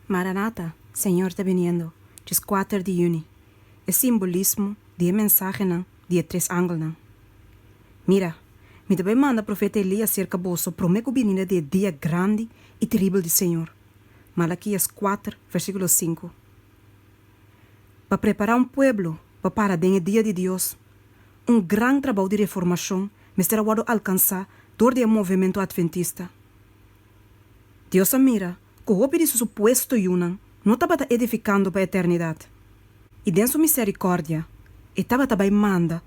Maranata, Señor ta biniendo, djes kuater di yüni, e simbolismo di e mensahenan di e tres angelnan. Mira, mi ta bai manda profeta Elías serka boso promé ku bininda di e dia grandi i teribel di Señor, Malakias kuater versíkulo sinku, pa prepará un pueblo pa para den e dia di Dios. Un gran trabou di reformashon mester a wòrdu alkansá dor di e movementu adventista. Dios a mira ku hopi di su supuesto yunan no tabata edifikando pa eternidat, i den su misèrikòrdia e tabata bai manda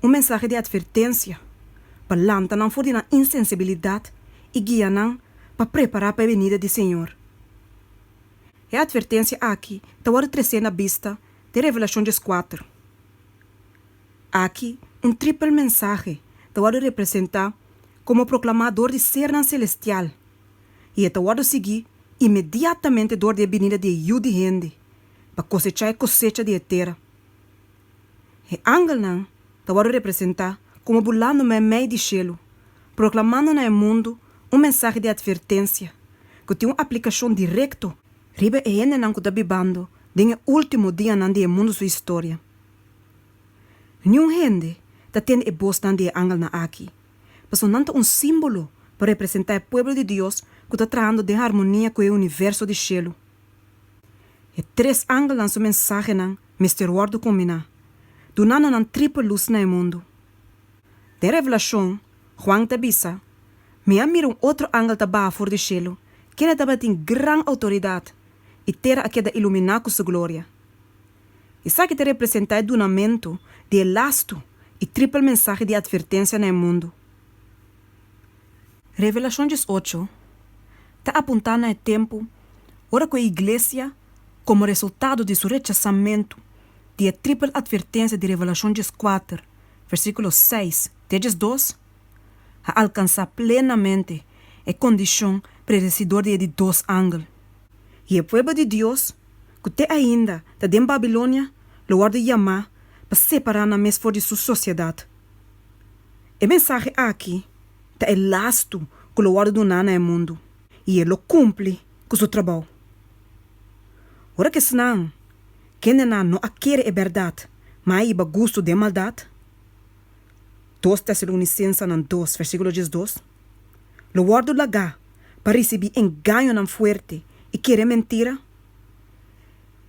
un mensahe di atvertensia pa lanta nan for di nan insensibilidat i guia nan pa prepará pa e benida di Señor. E atvertensia aki ta wòrdu tresé na bista di Revelashon dieskuater. Aki un tripel mensahe ta wòrdu representá komo proklamá dor di sernan selestial, i e ta wòrdu siguí inmediatamente dor di e binida di e Yu di hende pa kosechá e kosecha di e tera. E angelnan ta wòrdu representá komo bulando mei mei di shelu, proklamando na e mundu un mensahe di atvertensia ku tin un aplikashon direkto riba e hendenan ku ta bibando den e último dianan di e mundu su historia. Niun hende ta tende e bosnan di e angelnan aki, pasobra nan ta un símbolo pa representá e pueblo di Dios ku ta trahando den harmonia ku e universo di shelu. E tres angelnan su mensahenan mester wòrdu kombiná, dunando nan triple lus na e mundu. Den Revelashon, Juan ta bisa, Mi a mira un otro angel ta baha for di shelu, kende tabatin gran outoridat, i tera a keda iluminá ku su gloria. Esaki ta representá e dunamentu di e lastu i tripel mensahe di atvertensia na e mundu. Revelashon diesocho ta apuntá na e tempu ora ku e iglesia, komo resultado di su rechasamentu di e tripel atvertensia di Revelashon dieskuater, versíkulo seis te e diesdos, a alkansá plenamente e kondishon predesidor di e di dos angel. I e pueblo di Dios ku te ainda ta den Babilonia lo wòrdu yamá pa separá nan mes for di su sosiedat. E mensahe akí ta e lastu ku lo wòrdu duná na e mundu i e lo kumpli ku su trabou. Ora ku esnan, kendenan no a kere e bèrdat, ma a hiba gustu den maldat, dos Tesalonisensenan dos versíkulo diesdos, lo wòrdu lagá pa risibí engañonan fuerte i kere mentira,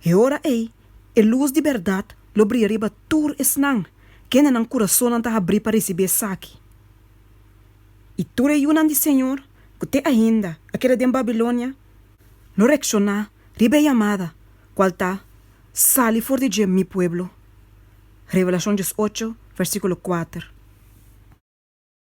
E ora ei, e lus di bèrdat lo bria riba tur esnan, kende nan kurasonnan ta habrí pa risibí esaki. I tur e yunan di Señor ku te ainda a keda den Babilonia lo reakshoná riba e yamada, kual ta, Sali for di dje, mi pueblo. Revelashon djes ocho, vèrsíkulo kuater.